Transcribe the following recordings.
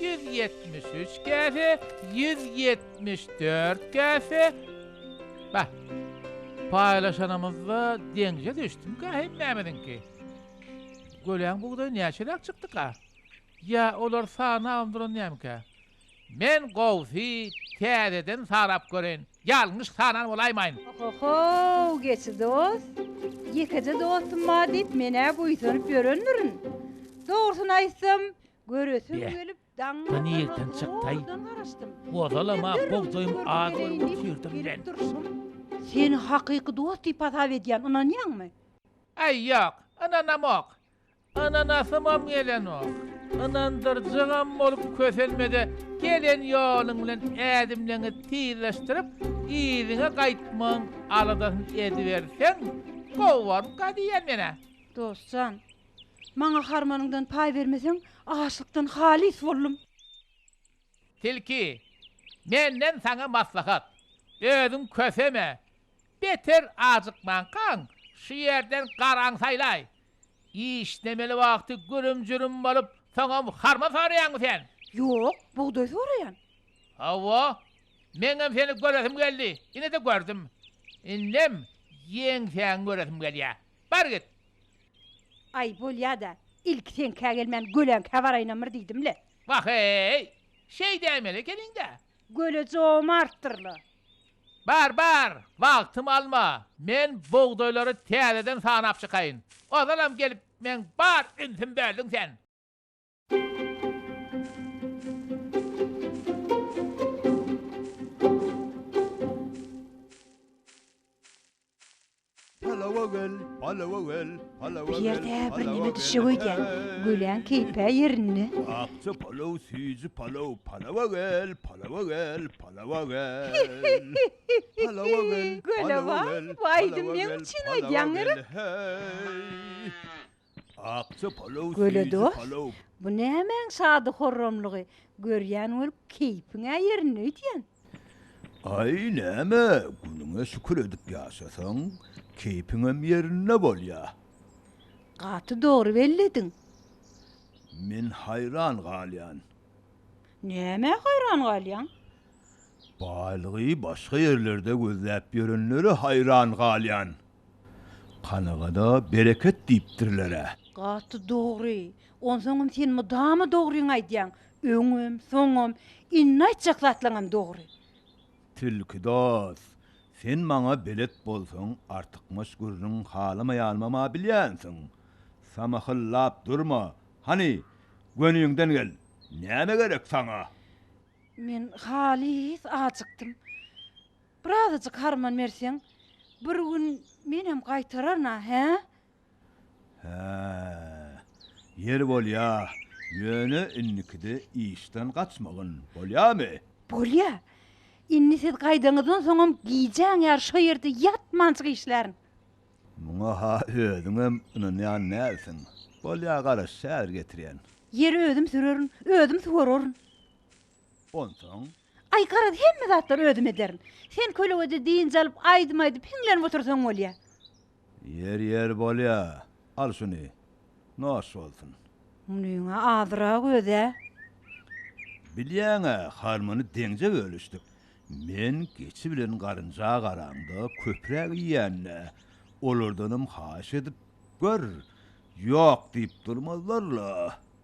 Ýüz ýetmiş üç käse, ýüz ýetmiş dört käse, Bäh, paýlaşanymyzda deňje düşdümikä hemmämiziňki? Göläň bugdaýy näçeräk çykdyka? Ýa olar sanabam duranýamyka? Men gowusy täzeden sanap göreýin, ýalňyş sanan bolaýmaýyn. Oho-how, geçi dost, ýekeje dostum-a diýip men-ä buýsanyp ýörendirin. Dogrusyny aýtsam, Göresim gelip daňňa ýerden çykdaý. Gozalam-a gowzaýym az görüp otyrdyň men. Seni hakyky dost diýip hasap edýän, ynanýaňmy? Aý ýok, ynanamok. Ynanasymam gelenok. Ynandyrjagam bolup kösenme-de gelen ýoluň bilen ädimleňi tizleşdirip yzyňa gaýtmagyň aladasyny ediberseň gowarka diýýän men-ä. Dost jan, Maňa harmanyňdan paý bermeseň, açlykdan halys boldum. Tilki, Menden saňa maslahat, özüň köseme, beter ajykmankaň, şu ýerden garaň saýlaý. Işlemeli wagty gürüm-jürüm bolup, soňam harman soraýaňmy sen? Ýok, bugdaý soraýan. Hawa, meňem seni göresim geldi, ine-de gördüm. Indem ýeňsäňi göresim gelýär. Bar git. Aý, bolýa-da, ilki seňkä gelmän Göläňkä baraýynamyr diýdim-le. Wah-eý! Şeý däýmeli ekeniň-dä. Göle jomartdyr-la. Bar, bar, wagtymy alma. Men bugdaýlary täzeden sanap çykaýyn. Ozalam gelip, meň bar ünsim böldüň sen. Bir ýerde birneme düşjek öýdýän. Güläň keýpä ýerinde. Akja palaw, süýji palaw, palawa gel, palawa gel, palawa gel. Palawa gel, palawa gel, palawa gel, palawa gel, hey. Göle dos, bu nämäň şady-horramlygy, görýän bolup keýpiň-ä ýerinde öýdýäň. Aý, näme, günüňe şükür edip ýaşasaň, keýpiňem ýerinde bolýa. Gaty dogry bellediň. Men haýran galýan. Nämä haýran galýaň? Baýlygy başga ýerlerde gözläp ýörenlere haýran galýan. Kanagada bereket diýipdirler-ä. Gaty dogry. Onsoňam sen mydama dogryňy aýdýaň. Öňem, soňam, indi aýtjak zatlaňam dogry. Tilki dos, sen maňa belet bolsaň artykmaç gürrüň halamaýanymam-a bilýänsiň. Samahyllap durma. Hany, göniňden gel. Näme gerek saňa? Men halys ajykdym. Birazajyk harman berseň, bir gün menem gaýtararyn-a, hä? Hä, ýeri bolýa, ýöne indikide işden gaçmagyn, bolýamy? Bolýa. Indi siz gaýdaňyzdan soňam gijäň ýary şo ýerde ýatmanjyk işlärin. Muňa-ha özüňem ynanýan dälsiň. Bolýa, garaş, häzir getirýän. Ýeri özüm sürerin, özüm suwararyn. Onsoň, Aý, garaz, hemme zatlary özüm ederin. Sen kölegede dynç alyp, aýdym aýdyp, hiňlenip otursaň bolýa. Ýer, ýer, bolýa. Al şuny. Noş bolsun. Munyň-a azyrak öz-ä. Bilýäň-ä, harmany deňje bölüşdik. Men geçi bilen garynja garaňda köpräk iýän-dä. Olardanam haýyş edip gör. Ýok diýip durmazlar-la.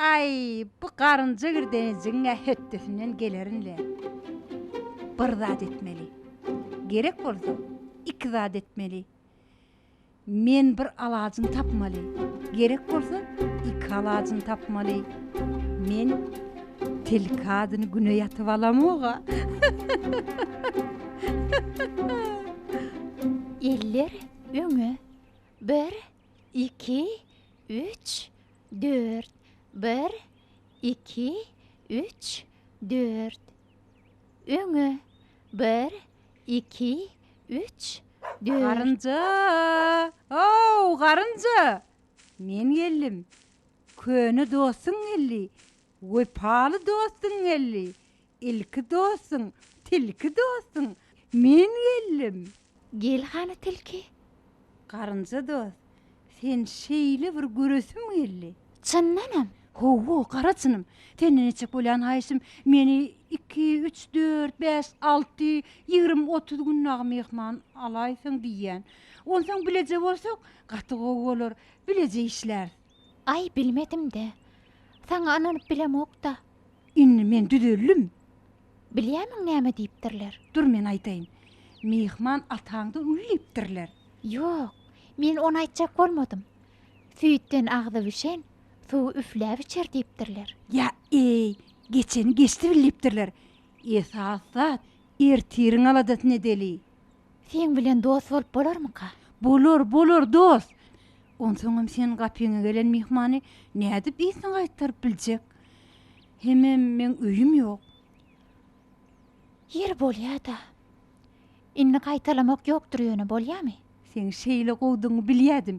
Aý, bu garynja girdenejigiň-ä hötdesinden gelerin-le. Bir zat etmeli. Gerek bolsa, iki zat etmeli. Men bir alajyny tapmaly. Gerek bolsa, iki alajyny tapmaly. Men tilki adyny güne ýatyp alamog-a. Eller öňe. Bir, Iki, üç, dört, bir, iki, üç, dört. Öňe, bir, iki, üç, dört. Garynja! Ow, garynja! Men geldim. Köne dostuň geldi. Wepaly dostuň geldi. Ilki dostuň, tilki dostuň, men geldim. Gel hany tilki. Garynja dost, sen şeýle bir göresim geldi. Çyndanam? Hawa, gara çynym. Senden etjek bolýan haýyşym, meni iki, üç, dört, bäş, alty, ýigrimi, otuz gün dagy myhman alaýsaň diýýän. Onsoň bileje bolsak, gaty gowy bolar. Bileje işläris. Aý, bilmedim-dä. Saňa ynanyp bilemok-da. Indi men düzeldim. Bilýärmiň näme diýipdirler? Dur, men aýdaýyn. Myhman ataňdan uly diýipdirler. Ýok, men ony aýtjak bolmadym. Süýtden agzy bişen, suwy üfläp içer diýipdirler. Ýa-eý, geçeni geçdi bil diýipdirler. Esas zat, ertiriň aladasynedeli. Seň bilen dost bolup bolarmyka? Bolar, bolar, dost. Onsoňam seniň gapyňa gelen myhmany nädip ysyna gaýtaryp biljek? Hemem meň öýüm ýok. Ýeri bolýa-da. Indi gaýtalamak ýokdur ýöne, bolýamy? Seň şeýle gowudygyňy bilýädim.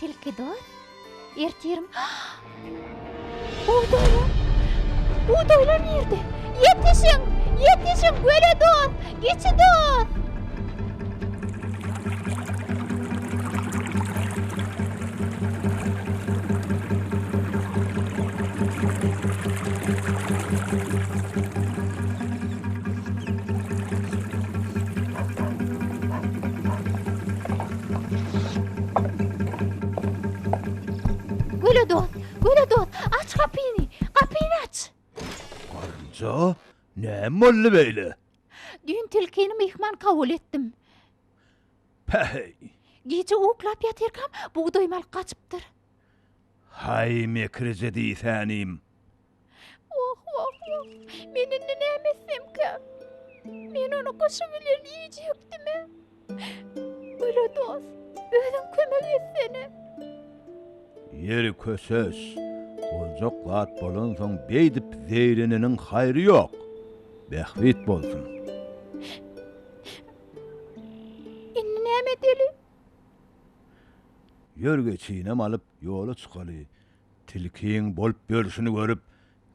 Tilki dost, ertirim. Bugdaýlar! Bugdaýlar nirde? Ýetişiň! Ýetişiň, göle dost! Geçi dost! Göle dost, göle dost, aç gapyny, gapyny aç! Garynja, näme boldy beýle? Düýn tilkini myhman kabul etdim. Päheý! Gije uklap ýatyrkam, bugdaýymy alyp gaçypdyr. Haý, mekrije diýsänim! Wah, wah, wah! Men indi näme etsemkä? Men ony gyşy bilen iýjekdim-ä. Göre dost, özüň kömek etsene. Ýeri köses, boljak zat bolansoň beýdip zeýreneniň haýry ýok. Bähbit bolsun. Indi näme edeli? Ýörgä çyýnam alyp, ýola çykaly. Tilkiň bolup ýörşüni görüp,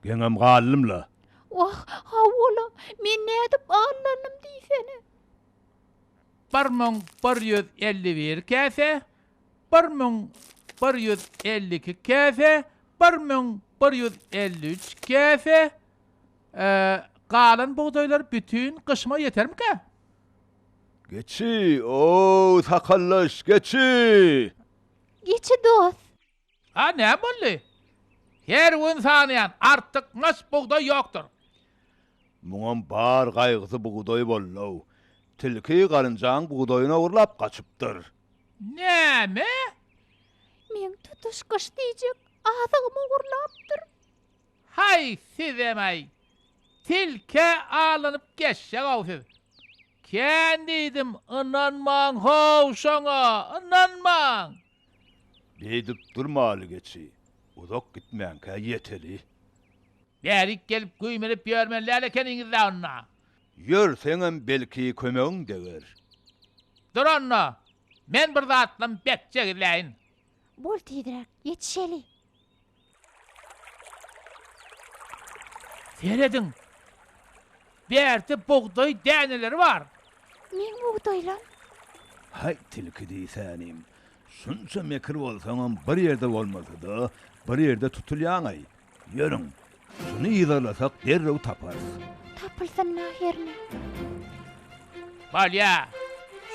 geňem galdym-la. Wah, hawa-la, men nädip aldanym diýsene. Bir müň bir ýüz elli bir käse, bir müň bir ýüz elli iki käse, bir müň bir ýüz elli üç käse, e, galan bugdaýlar bütin gyşyma ýetermikä? Geçi, o-ow, sakaldaş, geçi! Geçi dost! A näme boldy? Her gün sanaýan, artyk maç bugdaý ýokdur. Muňam bar gaýgysy bugdaý bollow. Tilki garynjaň bugdaýyny ogurlap gaçypdyr. Näme? Meň tutuş gyş diýjek azygymy ogurlapdyr. Haý sizem-aý. Tilkä alanyp geçjek-ow siz. Kän diýdim, ynanmaň how şoňa, ynanmaň! Beýdip durmaly geçi, uzak gitmänkä ýeteli. Bärik gelip güýmenip ýörmeliler ekeniňiz-dä onda. Ýörseňem belki kömegiň deger. Dur onda, men bir zatlam bek jegizläýin. Bol tizräk, ýetişeli. Serediň. Bärde bugdaý däneleri bar. Meň bugdaýlam. Haý, tilki diýsänim. Şunça mekir bolsaňam bir ýerde bolmasa-da, bir ýerde tutulýaň-aý. Ýörüň, şuny yzarlasak derrew taparys. Tapylsyn mährini. Bolýa,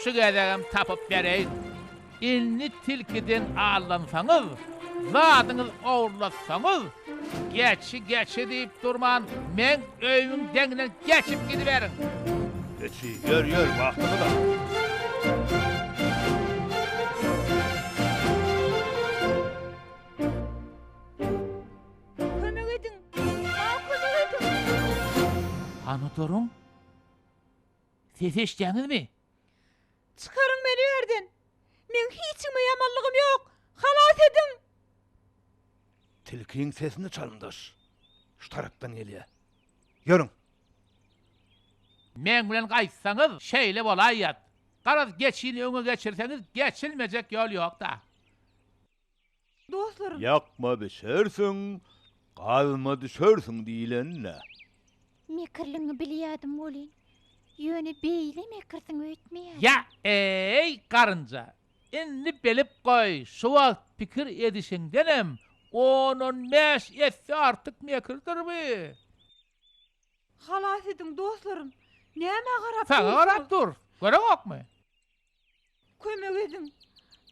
şu gezegem tapyp bereýin. Indi tilkiden aldansaňyz, zadyňyz ogurlatsaňyz, geçi, geçi diýip durman, meň öýümiň deňinden geçip gidiberiň. Geçi, ýör, ýör, wagtymyz az. Kömek ediň! Maňa kömek ediň! Hanotaryň sesi eşidýäňizmi? Çykaryň meni bu ýerden! Meň hiç kime ýamanlygym ýok! Halas ediň! Tilkiň sesini çalymdaş. Şu tarapdan gelýär. Ýörüň! Meň bilen gaýtsaňyz, şeýle bolaýýat. Garaz, geçini öňe geçirseňiz, geçilmejek ýol ýok-da. Dostlarym. Ýakma bişersiň, gazma düşersiň diýlen-dä. Mekirligiňi bilýädim welin, ýöne beýle mekirsiň öýtmeýädim. Ýa-eý, garynja, indi bilip goý, şu wagt pikir edişiňdenem on-on bäş esse artyk mekirdir bu. Halas ediň, dostlarym, nämä garap dursuňyz? Saňa garap durus, göreňokmy? Kömek ediň!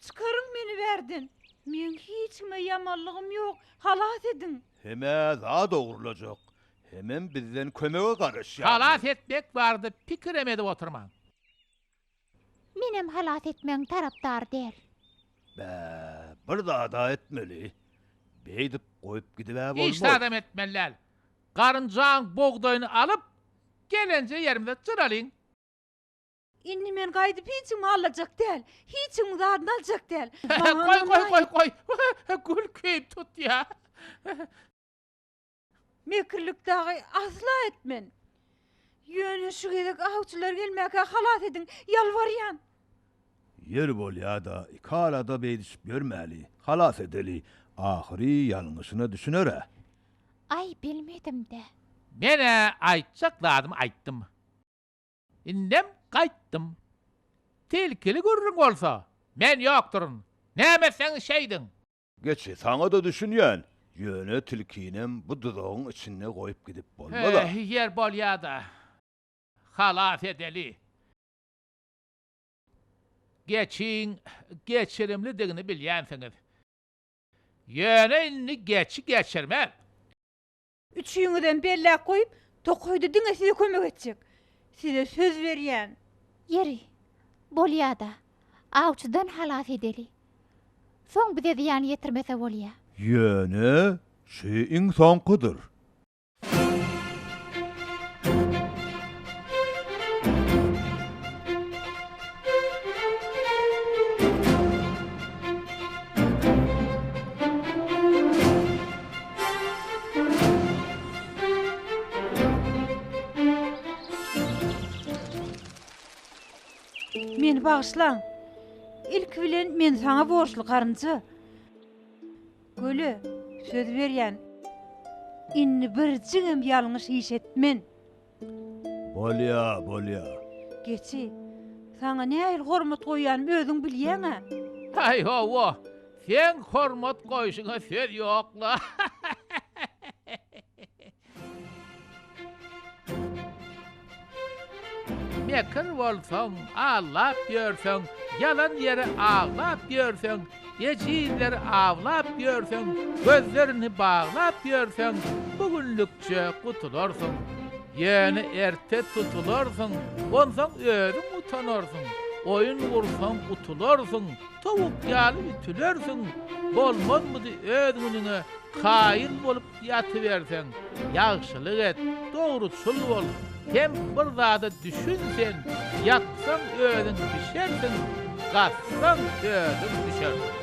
Çykaryň meni bärden! Meň hiç kime ýamanlygym ýok, halas ediň! Hemä zat ogurlajak, hemem bizden kömege garaşýarlar. Halas etmek barada pikirem edip oturmaň. Menem halas etmegiň tarapdary däl. Bä, bir zad-a etmeli. Beýdip goýup gidibä bolmaz. Hiç zadam etmeli däl. Garynjaň bugdaýyny alyp, gelenje ýerimize jyralyň. Indi men gaýdyp hiç kimi allajak däl. Hiç kimiň zadyny aljak däl. Goý, goý, goý, goý. Gül keýp tutýar. Mekirlik dagy asla etmen. Ýöne şu gezek awçylar gelmäkä halas ediň, ýalbarýan. Ýeri bolýa-da, iki alada beýdişip ýörmäli. Halas edeli. Ahyry ýalňyşyna düşüner-ä. Aý, bilmedim-dä. Men-ä aýtjak zadymy aýtdym. Indem gaýtdym. Tilkili gürrüň bolsa, men ýokduryn. Näme etseňiz şeýdiň. Geçi, saňa-da düşünýän. Ýöne tilkinem bu duzagyň içinde goýup gidip bolmaz-a. He, ýer bolýa-da. Halas edeli. Geçiň geçirimlidigini bilýänsiňiz. Ýöne indi geçi geçirmez. Üçüňizem belläp goýup, tokaýda diňe size kömek etjek. Size söz berýän. Ýeri, bolýa-da, awçydan halas edeli. Soň bize zyýan ýetirmese bolýa. Ýöne şu iň soňkudyr. Meni bagyşlaň. Ilki bilen men saňa borçly, garynja. Göle söz berýän. Indi birjigem ýalňyş iş etmen. Bolýa, bolýa. Geçi, saňa nähili hormat goýýanymy özüň bilýäň-ä. Haý, hawa, seň hormat goýşuňa söz ýok-la. Mekir bolsaň, aldap ýörseň, ýalan ýere aglap ýörseň, Ejizleri awlap ýörseň, gözlerini baglap ýörseň, bu günlükçe gutularsyň. Ýöne erte tutularsyň, onsoň özüň utanarsyň. Oýun gursaň, utularsyň, towuk ýaly ütülersiň. Bolmazmydy öz günüňe kaýyl bolup Ýatyberseň, ýagşylyk et, dogruçyl bol, hem bir zada düşün sen, ýatsaň özüň bişersiň, gazsaň özüň düşersiň.